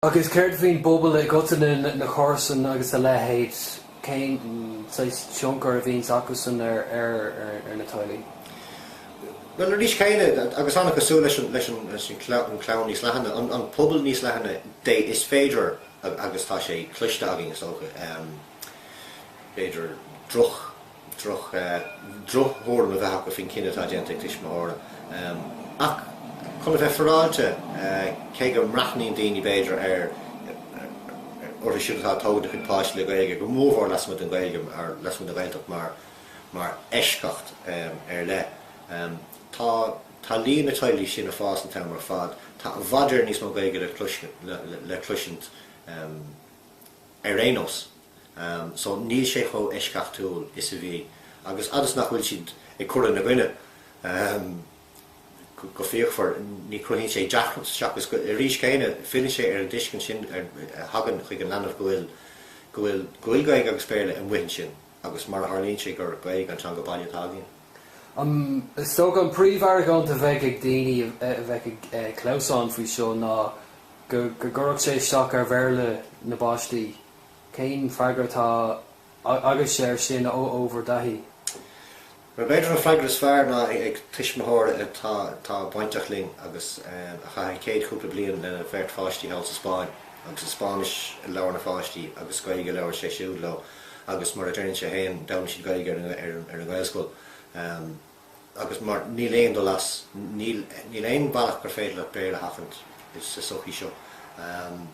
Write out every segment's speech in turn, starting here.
Agus céard faoin bpobal i gcoitinne, na comharsain agus a leithéid, cén saghas tionchar a bhíonns acu san ar na teaghlaigh? Bhuel, arís céanna, agus an-chosúil leis an chlann níos leathana, an pobal níos leathana de is féidir agus tá sé cloiste againn is dócha, b'fhéidir droch, droch thuairim a bheith acu faoin gcinneadh atá déanta ag tuismitheoirí. Ach chun a bheith faireáilte, cé go mbreathnaíonn daoine b'fhéidir orthu siúd atá ag tógaint a gcuid páistí le Gaeilge, go mórmhór lasmuigh den Ghaeilge, nó lasmuigh den Ghaeltacht mar eisceacht ar leith, tá tá líon na teaghlaigh sin ag fás an t-am ar fad. Tá i bhfad níos mó Gaeilge le cloisint. ar aon nós. So níl sé chomh eisceachtúil is a bhí. Agus fhad is nach bhfuil siad ag cur ina gcoinne go fíochmhar ní chruthaíonn sé deacracht seachas go arís céanna filleann sé ar an dtuiscint sin a thagann chuig an leanbh go bhfuil go bhfuil go bhfuil Gaeilge agus Béarla amuigh ansin agus mar a tharlaíonn sé gur Gaeilge an teanga baile atá againn. Is dócha an príomh-argóint a bheadh ag daoine a bheadh ag clamhsán faoi seo ná go gcuirfeadh sé isteach ar Bhéarla na bpáistí. Cén freagra atá agaibhse ar sin ó bhur dtaithí? B'fhéidir an freagra is fearr ná ag tuismitheoir atá bainteach linn agus a chaith an chéad chúpla bliain lena bheirt pháistí thall sa Spáinn agus Spáinnis a labhair na pháistí agus Gaeilge a labhair sé siúd leo. agus mar a deireann sé féin d'fhoghlaim siad Gaeilge ar an Ghaelscoil agus mar níl aon dul as, níl aon bhealach gur féidir leat Béarla a sheachaint sa sochaí seo in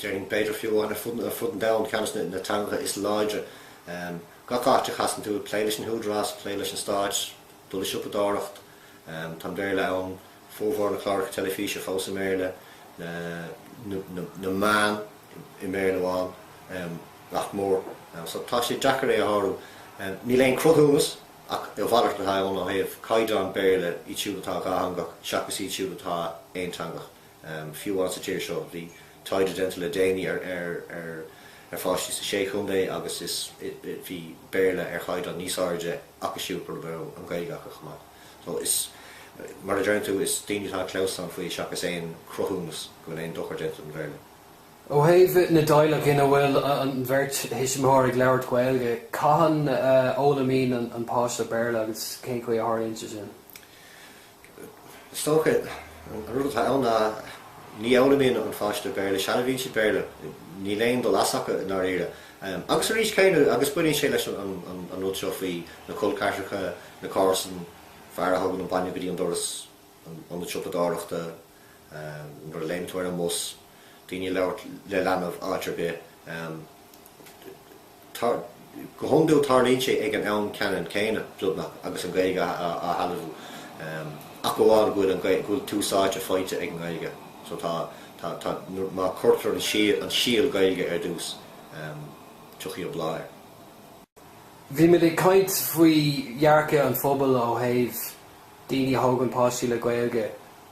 Éirinn, b'fhéidir fiú amháin ar fud an domhain ceannas na teangacha is láidre gach áit a chasann tú, ag plé leis na húdaráis, plé leis an stát, dul ag siopadóireacht, tá an Béarla ann. Formhór na cláracha teilifíse fós i mBéarla, na meáin i mBéarla amháin, nach mór, so tá sé deacair é a shárú. Níl aon cruthúnas ach a mhalairt atá ann ó thaobh caighdeán Béarla iad siúd atá dhátheangach seachas iad siúd atá aonteangach. Fiú amháin sa tír seo, bhí taighde déanta le déanaí ar pháistí sa Sé Chontae agus bhí Béarla ar chaighdeán níos airde acu siúd a raibh an Ghaeilge acu chomh maith. Bhuel, is, mar a deireann tú, is daoine atá ag clamhsán faoi seachas aon chruthúnas go bhfuil aon dochar déanta don Bhéarla. Ó thaobh na dteaghlach ina bhfuil an bheirt thuismitheoir ag labhairt Gaeilge, cathain a fhoghlaimíonn an páiste Béarla agus cén chaoi a tharlaíonn sé sin? Is dócha, an rud atá ann ná ní fhoghlaimíonn an páiste Béarla sealbhaíonn siad Béarla, níl aon dul as acu i ndáiríre. Agus arís céanna, agus baineann sé leis an rud seo faoi na col ceathracha, na comharsan, fear a thugann an bainne go dtí an doras, an ionad siopadóireachta, nuair a léim tú ar an mbus, daoine ag labhairt le leanbh áit ar bith. Tá, go hiondúil tarlaíonn sé ag an am ceannann céanna, beagnach, agus an Ghaeilge á shealbhú. Ach amháin go bhfuil an, go bhfuil tús áite faighte ag an nGaeilge. So tá, tá, tá, má cuirtear an síol, an síol Gaeilge ar dtús, tiocfaidh an bláth air. Bhí muid ag caint faoi dhearcadh an phobail ó thaobh daoine a thógann páistí le Gaeilge.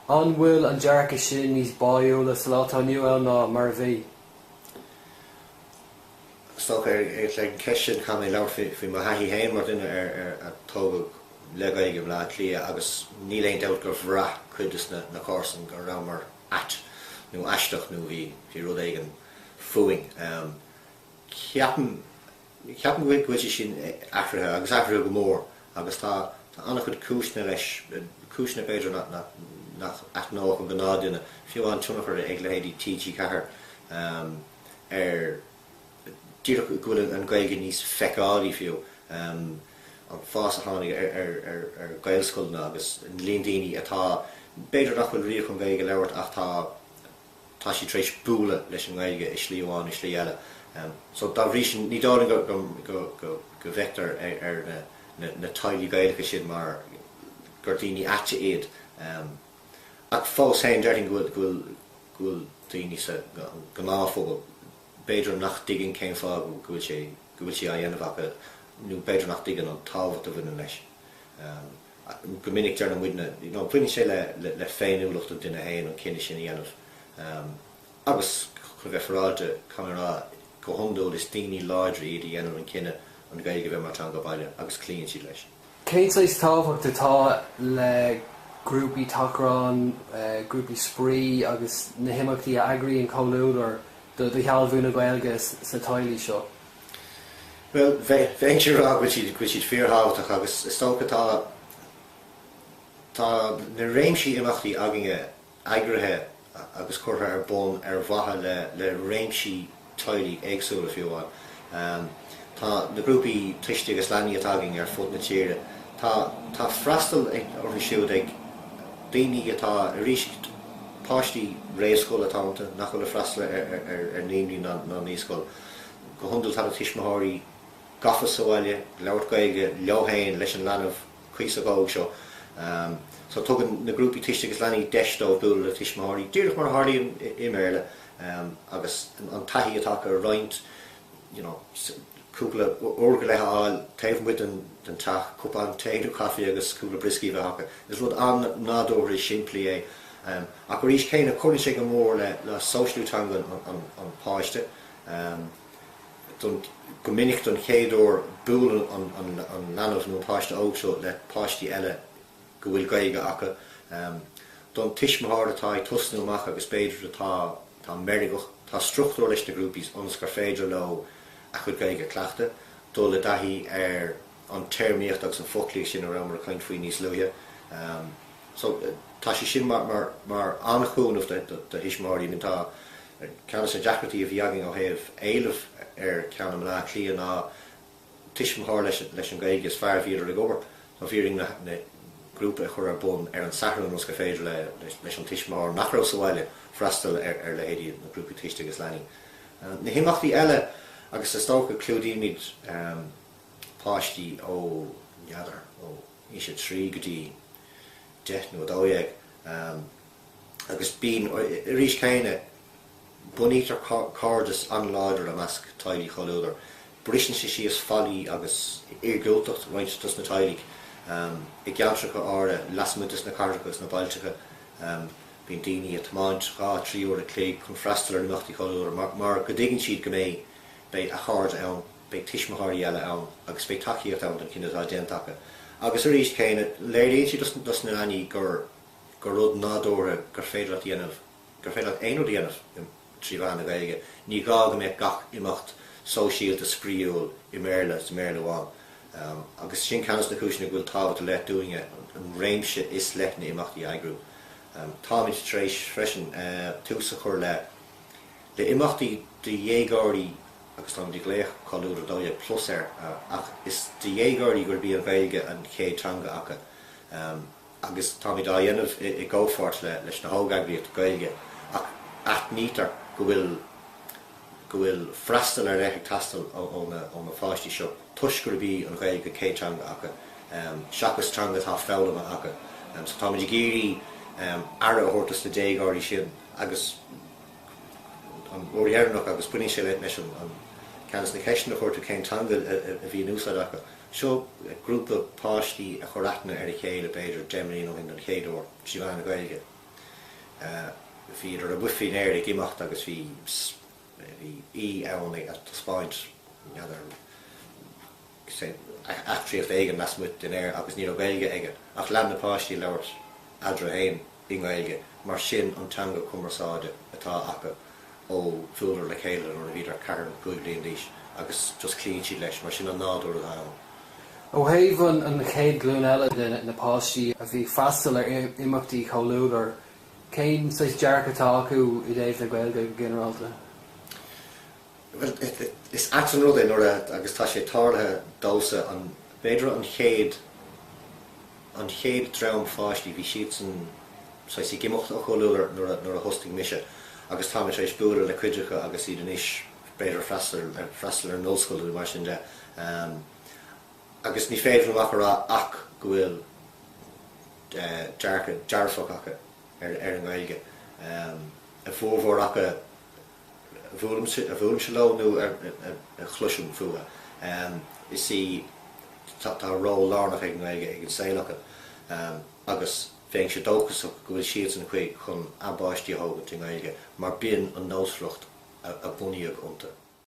An bhfuil an dearcadh sin níos báiúla sa lá atá inniu ann ná mar a bhí? Is dócha ar leibhéal amháin sin. Caithfidh mé labhairt faoi mo thaithí féin mar dhuine a tógadh le Gaeilge i mBleá Cliath agus níl aon dabht gur bhraith cuid de na comharsan go rabhamar ait nó aisteach nó bhí rud éigin fúinn. Ceapaim. Ceapaim go bhfuil sé sin athraithe agus athraithe go mór agus tá an-chuid cúiseanna leis, cúiseanna b'fhéidir nach n-aithneodh an gnáth duine, fiú amháin tionchar ag leithéidí TG4 ar díreach go bhfuil an Ghaeilge níos feiceálaí fiú, an fás a tháinig ar Ghaelscoileanna agus an líon daoine atá, b'fhéidir nach bhfuil riamh chun Gaeilge a labhairt ach tá, tá siad tar éis bualadh leis an nGaeilge i slí amháin nó slí eile so dá bhrí sin ní dóigh liom go bhfeictear ar na teaghlaigh Gaelacha sin mar gur daoine aite iad ach fós féin deirfinn go bhfuil daoine sa ngnáthphobal b'fhéidir nach dtuigeann cén fáth go bhfuil sé go bhfuil sé á dhéanamh acu nó b'fhéidir nach dtuigeann an tábhacht a bhaineann leis. Go minic dar ndóigh, you know, baineann sé le féiniúlacht an duine féin an cinneadh sin a dhéanamh agus chun bheith faireáilte, caithfidh mé a rá, go hiondúil is daoine láidre iad a dhéanann an cinneadh an Ghaeilge a bheith mar theanga baile agus cloíonn siad leis. Cén saghas tábhacht atá le grúpaí tachrán, grúpaí spraoi agus na himeachtaí a eagraíonn Comhluadar do shealbhú na Gaeilge sna teaghlaigh seo? Bhuel, bheinnse ag rá go bhfuil siad, go bhfuil siad fíor-thábhachtach agus is dócha tá, tá na réimsí imeachtaí againne eagraithe agus curtha ar bun ar mhaithe le, le réimsí teaghlaigh éagsúla fiú amháin. Tá na grúpaí tuistí agus leanaí atá againn ar fud na tíre, tá, tá freastal ag, orthu siúd ag daoine atá arís, páistí réamhscoile atá iontu nach bhfuil ag freastal ar, ar, ar naíonraí ná naíscoil. Go hiondúil tá na tuismitheoirí gafa sa bhaile ag labhairt Gaeilge leo féin leis an leanbh cuíosach óg seo so tugann na grúpaí Tuiste agus Leanaí deis dóibh bualadh le tuismitheoirí, díreach mar a tharlaíonn i mBéarla, agus an taithí atá acu a roinnt, you know, cúpla uair go leith a fháil taobh amuigh den teach, cupán tae nó caife agus cúpla brioscaí a bheith acu. Is rud an-nádúrtha is simplí é. Ach arís céanna cuireann sé go mór le sóisialú teanga an pháiste. Go minic don chéad uair buaileann an leanbh nó an páiste óg seo le páistí eile go bhfuil Gaeilge acu. Don tuismitheoir atá ag tosnú amach agus b'fhéidir atá meirgeach, tá struchtúr leis na grúpaí ionas gur féidir leo a gcuid Gaeilge a chleachtadh, dul i dtaithí ar an téarmaíocht agus an foclaíocht sin a rabhamar ag caint faoi níos luaithe. So tá sé sin mar an-chúnamh do thuismitheoirí. I mean tá ceann dos na deacrachtaí a bhí againn ó thaobh éileamh ar cheann i mBleá Cliath ná an tuismitheoir leis an Ghaeilge is fearr bhíodar ag obair. So bhíomar in ann grúpa a chur ar bun ar an Satharn ionas gur féidir leis an tuismitheoir nach raibh sa bhaile freastal ar leithéidí na grúpaí Tuiste agus Leanaí. Na himeachtaí eile agus is dócha clúdaímid páistí ó n'fheadar ó aois a trí go dtí deich nó a dó dhéag agus bíonn arís céanna bunaítear cairdeas an-láidir i measc teaghlaigh Chomhluadar. Briseann sé síos faillí agus iargúltacht roinnt dos na teaghlaigh i gceantracha áirithe lasmuigh des na cathracha is na bailteacha. Bíonn daoine ag tiomáint dhá trí uair a chloig chun freastal ar imeachtaí Chomhluadar mar go dtuigeann siad go mbeidh beidh a gcairde ann. beidh tuismitheoirí eile ann agus beidh tacaíocht ann don chinneadh atá déanta acu agus arís céanna léiríonn siad dos na leanaí gur gur rud nádúrtha gur féidir leat a dhéanamh gur féidir leat aon rud a dhéanamh trí mheán na Gaeilge ní gá go mbeadh gach imeacht sóisialta spraíúil i mBéarla is i mBéarla amháin agus sin ceann dos na cúiseanna go bhfuil tábhacht ar leith dúinne an réimse is leithne imeachtaí a eagrú. Táimid tar éis freisin tús a chur le le imeachtaí do dhéagóirí agus táimid ag glaoch Comhluadar 12 plus air is do dhéagóirí gurb í an Ghaeilge an chéad teanga acu agus táimid á dhéanamh i gcomhpháirt leis na hógeagraíochtaí Gaeilge ach aithnítear go bhfuil go bhfuil freastal ar leith ag teastáil ó na páistí seo toisc gurb í an Ghaeilge an chéad teanga acu seachas teanga atá foghlamtha acu so táimid ag iarraidh aire a thabhairt dos na déagóirí sin agus an uair dheireanach agus baineann sé leis an gceist sin, na ceisteanna a chuir tú cén teanga a bhí in úsáid acu. Seo grúpa páistí a chuir aithne ar a chéile b'fhéidir deich mbliana ó shin don chéad uair trí mheán na Gaeilge. Bhí siad amuigh faoin aer ag imeacht agus bhí bhí saoi ann ag taispeáint n'fheadar eachtraíocht éigin lasmuigh faoin aer agus ní raibh Gaeilge aige ach lean na páistí ag labhairt eatarthu féin i nGaeilge mar sin an teanga cumarsáide atá acu ó bhuaileadar le chéile nuair a bhíodar ceithre nó cúig bliana d'aois agus just cloíonn siad leis mar sin an nádúr atá ann. Ó thaobh an chéad ghlúin eile de na páistí a bhí ag freastal ar imeachtaí Chomhluadar cén saghas dearcadh atá acu i dtaobh na Gaeilge go ginearálta? Bhuel, is ait an rud é nuair a, agus tá sé tarlaithe domhsa, an, b'fhéidir an chéad, an chéad dream pháistí, bhí siadsan saghas ag imeacht ó Chomhluadar nuair a, nuair a thosnaigh mise agus táimid tar éis bualadh le cuid acu agus iad anois b'fhéidir ag freastal, ag freastal ar an ollscoil nó mar sin de. Agus ní féidir liom ach a rá ach go bhfuil dearcadh dearfach acu ar, ar an nGaeilge. A bhformhór acu. a bhuailimse leo nó a chloisim fútha, is í, tá ról lárnach ag an nGaeilge i saol acu agus bheinnse dóchasach go bhfuil siadsan chun, chun a bpáistí a thógaint i nGaeilge mar b'in an nósmhaireacht a bunaíodh iontu.